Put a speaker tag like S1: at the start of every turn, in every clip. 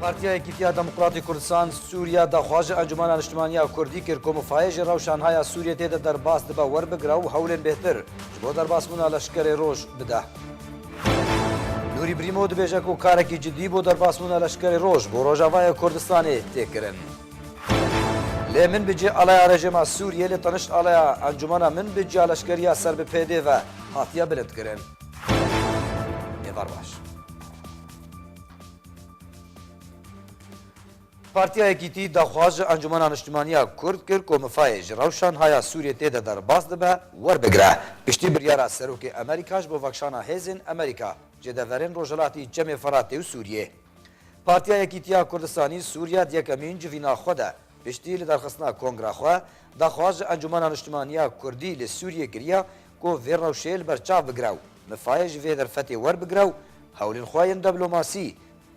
S1: Partiya Yekîtiya Demokratê Kurdistan Sûriya daxwaji Encûmena Niştimaniya Kurdî kir ku mifayê ji rewşanhaya Sûriyê tê de derbas dibe werbigire û hewlên bêhtir ji bo derbasbûna leşkerê roj bide. Nûrî Brîmo dibêje ku karekî cidî bo derbasbûna leşkerê roj bo Rojavayê Kurdistanê tê kirin. Lê min bi cih alaya rejêma Sûriyê lê tenişt alaya Encûmena min bi cih a leşkeriya ser bi pd ve hatiye bilindkirin. Êvar baş. Partiya Yekîtî daxwaz ji Encûmena Niştimaniya Kurd kir ku Mifayê ji rewşan haya Sûriyê tê de derbas dibe werbigire. Piştî biryara Serokê Amerîka ji bo vekşana hêzên Amerîka jê de verên Rojhilatî Çemê Firatê û Sûriyê. Partiya Yekîtiya Kurdistanî Sûriya di yekemîn civîna xwe de piştî lidarxistina kongra xwe daxwaz ji Encûmena Niştimaniya Kurdî li Sûriyê kiriye Ku vê rewşê li ber çav bigire û mifayê ji vê derfetê werbigire û hewlên xwe yên deblomasî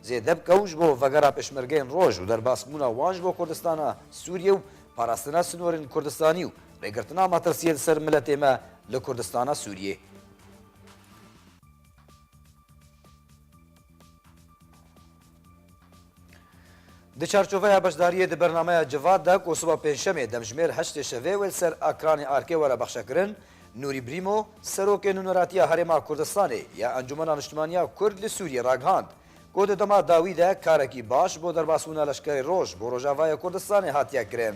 S1: zêde bike û ji bo vegera pêşmergeyên roj û derbasbûna wan ji bo Kurdistana Sûriyê û parastina sinorên Kurdistanî û rêgirtina metirsiyê li ser miletê me li Kurdistana Sûriyê Di çarçoveya beşdariyê di bernameya Civat de ku siba Pêncşemê demjimêr heştê şevê wê li ser ekranê ARK'ê were bexşekirin, Nûrî Brîmo, Serokê Nûneratiya Herêma Kurdistanê ya Encûmena Niştimaniya Kurd li Sûriyê ragihand ku di dema dawî de karekî baş bo derbasbûna leşkerê roj bo Rojavayê Kurdistanê hatiye kirin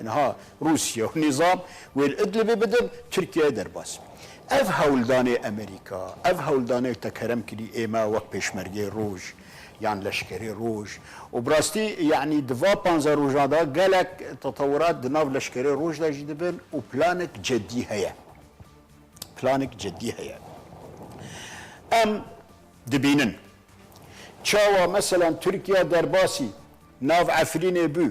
S2: Niha Rûsya û nîzam wê li Idlibê bidin, Tirkiyeyê derbas. Ev hewldanê Amerîka, ev hewldanê te kerem kirî ême wek pêşmergeyê roj yan leşkerê roj û bi rastî yanî di va panze rojan de gelek tetewurat di nav leşkerê roj de jî dibin û planek ceddî heye. Planek ceddî heye. Em dibînin çawa meselan Tirkiya derbasî nav Efrînê bû,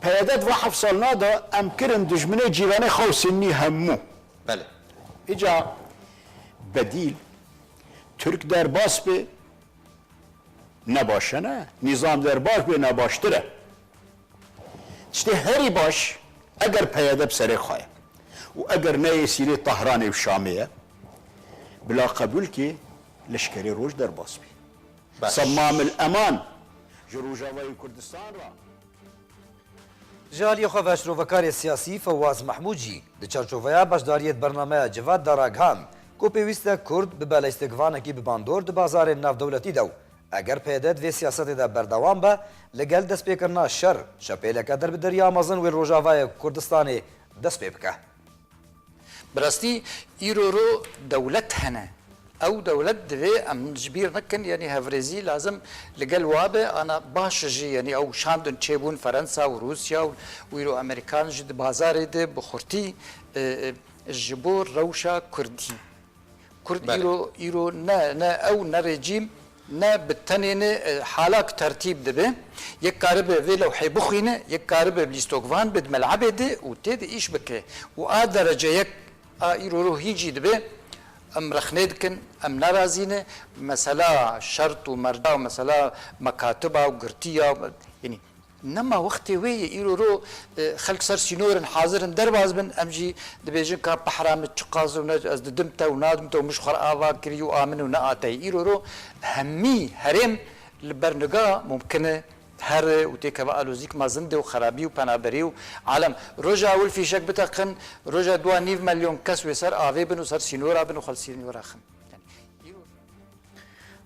S2: Peyede di van heft salina de em kirin dijminê cîranê xwe û Sinnî hemû. Belê.
S3: Îca
S2: bedîl Tirk derbas bê ne baş e ne, nîzam derbaş bê ne baştir e. Tiştê herî baş eger peyede bi serê xwe ye û eger ne yê sînê Tahranê û Şamê ye bila qebûl kê leşkerê roj derbas bê. Semam il Eman ji Rojavayê Kurdistan re. Ji
S1: aliyê xwe ve şrovekarê siyasî Fewaz Mehmûd jî di çarçoveya beşdariyê di bernameya Civat de ragihand ku pêwîst e Kurd bibe lîstikvanekî bi bandor di bazarên navdewletî de û eger PYD di vê siyasetê de berdewam be li gel destpêkirina şer şepêleke derbideriya mezin wê li Rojavayê Kurdistanê dest pê bike. Bi
S3: rastî îro ro dewlet hene. Ew dewlet divê em ji bîr nekin yanî hevrêzî lazim li gel wan be ana baş jî yanî ew şandin çê bûn Ferensa û Rûsya û îro Amerîkan jî di bazarê de bi xurtî ji bo rewşa kurdî. Kurd îro îro ne ne ew ne rejîm ne bi tenê ne halak tertîb dibe. Yek karibe vê lewhê bixwîne, yek karibe bi lîstokvan be di melebê de û tê de îş bike û a derece yek a îro ro hîn jî dibe. Em rexne dikin, em nerazî ne. Mesela şert û merca û mesela mekatiba û girtiya yanî. Nema wextê wê ye îro ro xelk ser sînor in hazir in derbas bin em jî dibêjin ka pehra min çiqas û ne ez didim te û nadim te û min ji xwe re ava kirî û a min û ne a te ye îro ro hemî herêm li ber niga mumkin e here û têkeve alozîk ma zindê û xerabî û penaberî û alem roja ewil fîşek biteqin roja dua nîv melyon kes wê ser avê bin û ser sînora bin û xwe li sînora xin.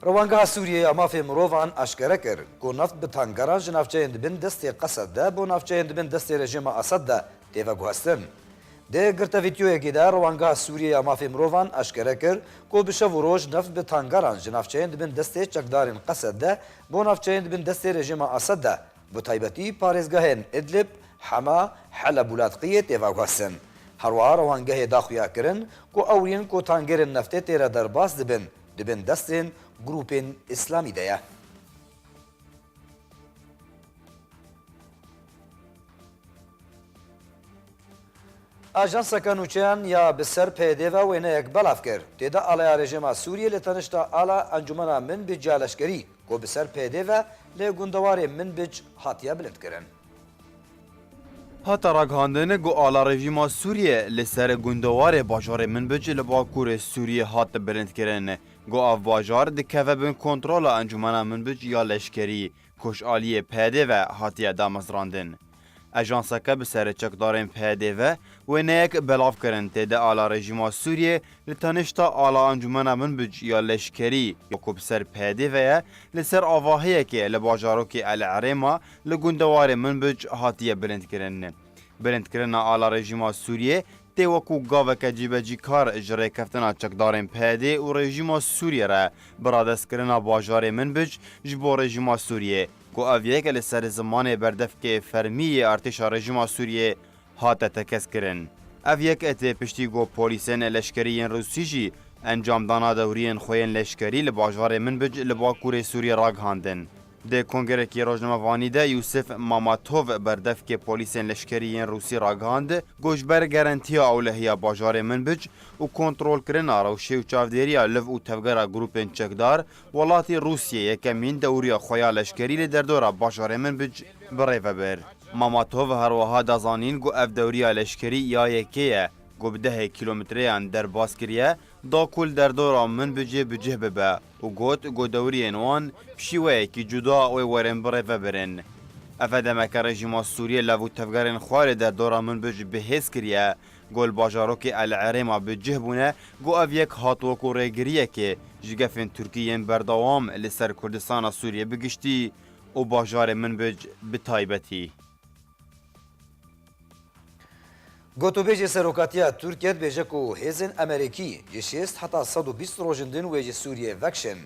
S3: Rewandgeha
S1: Sûriyê ya Mafê Mirovan eşkere kir ku neft bi tankeran ji navçeyên di bin destê Qesed de bo navçeyên di bin destê rejîma Esed de tê veguhestin. Di girte vîdeoyekê de Rewandgeha Sûriyê ya Mafê Mirovan eşkere kir ku bi şev û roj neft bi tankeran ji navçeyên di bin destê çekdarên Qesed de bo navçeyên di bin destê rejîma Esed de Bi taybetî parêzgehên Idlib, Hema, Heleb û Ladqiyê tê veguhsin. Herwiha rewangehê da xuya kirin ku ewrîyên ku tangêrên neftê tê re derbas dibin, di bin destên grûpên îslamî de ye. Ajanseke nûçeyan ya bi ser PYD ve wêneyek belav kir. Tê de aleya rejîma Sûriyê li tenişta ala Encûmena Min bi Ciya Leşkerî, Ku bi ser pêdê ve lê gundewarê Minbic hatiye bilindkirin. Hate
S4: ragihandin ku ala rejîma Sûriyê li ser gundewarê bajarê Minbic li bakurê Sûriyê hat bilindkirin ku ev bajar dikeve bin kontrola encûmena Minbic ya leşkerî ku ji aliyê pêdê ve hatiye damezrandin. Ajanseke bi serê çekdarên PYD'ê ve wêneyek belav kirin tê de ala rejîma Sûriyê li tenişta ala encûmena binbc ya leşkerî ya ku bi ser PYD'ê ve ye li ser avahiyekê li bajarokê El Erêma li gundewarê Minbic hatiye bilindkirin. Bilindkirina ala rejîma Sûriyê tê wekû gaveke cîbecîkar ji rêkeftina çekdarên PYDê û rejîma Sûriyê re bi radestkirina bajarê Minbij ji bo rejîma Sûriyê ku ev yek li ser zimanê berdevkê fermî yê artêşa rejîma Sûriyê hate tekez-kirin. Ev yek tê piştî ku polîsên leşkerî yên Rûsî jî encamdana dewriyên xwe yên leşkerî li bajarê Minbij li bakurê Sûriyê ragihandin. Di kongerekî rojnamevanî de Yûsif Mamatov berdevkê polîsên leşkerî yên Rûsî ragihand, Got ji ber gerentiya ewlehiya bajarê Minbij û kontrolkirina rewşê û çavdêriya liv û tevgera grûpên çekdar, welatî Rûsîyê yekemîn dewrîya xwe ya leşkerî li derdora bajarê Minbij bi rê ve bir. Mamatov her wiha da zanîn ku ev dewrîya leşkerî ya yekê ye ku bi dehê kîlometreyan derbas kiriye da ku li derdora Minbijê bi cih bibe û got ku dewriyên wan bi şîweyekî cuda wê werin birêvebirin. Ev demeke rejîma Sûriyê lav û tevgerên xwe li der dora Minbij bi hêz kiriye ku li bajarokê El Erêma bi cih bûne ku ev yek hat wekû rêgiriyekê ji gefên Tirkî yên berdewam li ser Kurdistana Sûriyê bi giştî û bajarê Minbij bi taybetî.
S1: Gotûbêjê Serokatiya Tirkiye dibêje ku hêzên Emerekî ji şêst heta sed û bîst rojên din wê ji Sûriyeyê vekişin.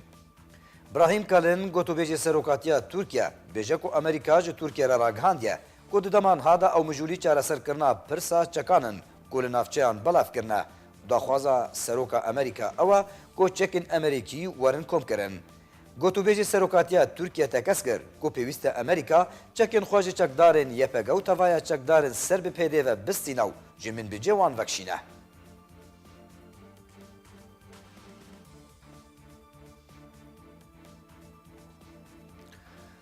S1: Brahim Kalin, Gotûbêjê Serokatiya Tirkiye dibêje ku Emerîka ji Tirkiye re ragihandiye ku di dema niha de ew mijûlî çareserkirina pirsa çekan in ku li navçeyan belav kirine û daxwaza Seroka Emerîka ew e ku çekên Emerêkî werin komkirin. Gotûbêjê Serokatiya Tirkiye tekez kir ku pêwîst e Amerîka çekên xwe ji çekdarên YPG û tevaya çekdarên ser bi PYD ve bistîne û ji minbicê wan vekişîne.